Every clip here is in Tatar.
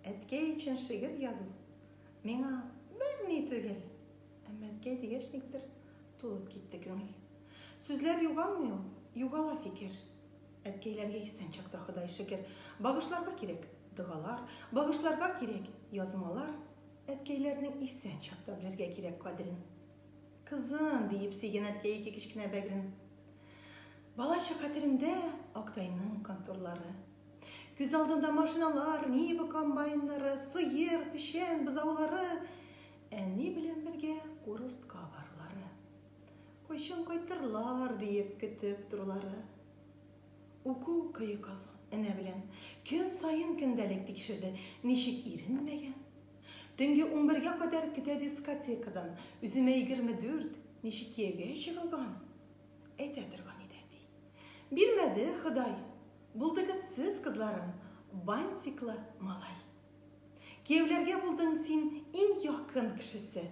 Әткәй өчен шигырь язу миңа берни түгел. Әмма әткәй дигәч никтер тулып китте күңел. Сүзләр югалмый ул, югала фикер. Әткәйләргә исән чакта Ходай шөкер. Багышларга кирәк догалар, багышларга кирәк язмалар. Әткәйләрнең исән чакта белергә кирәк кадерен. Кызым, диеп сөйгән әткәй ике кечкенә бәгрен. Балачак хәтеремдә Актайның контурлары. Күз алдында машиналар, Нива комбайннары, сыер, печән, бозаулары. Әни белән бергә курортка барлары. Кайчан кайтырлар диеп көтеп торулары. Уку көе казу энә белән көн саен көндәлек тикшерде. Ничек иренмәгән? Төнге унбергә кадәр көтә дискотекадан. Үземә егерме дүрт, ничек кияүгә чыгылган? Әйтә торган иде әти. Бирмәде Ходай. Булдыгыз сез кызларым бантиклы малай. Кияүләргә булдың син иң якын кешесе.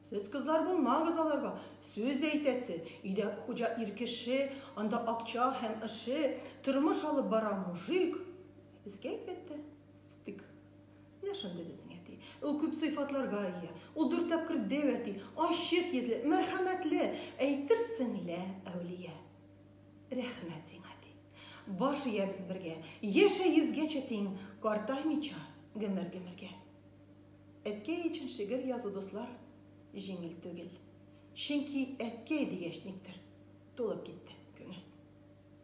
Сез кызлар булмагыз аларга сүз дә әйтәсе, өйдә хуҗа ир кеше, анда акча һәм ыше, тормыш алып бара мужик. Ә безгә әлбәттә стык. Менә шундый безнең әти. Ул күп сыйфатларга ия. Ул дүрт тапкыр дәү әти, ачык йөзле, мәрхәмәтле, әйтерсең лә әүлия. Рәхмәт сиңа, ди. Баш иябез бергә. Яшә йөзгәчә тиң, картаймыйча, гомер-гомергә. Әткәй өчен шигырь язу, дуслар, җиңел түгел. Чөнки әткәй дигәч никтер, тулып китте күңел.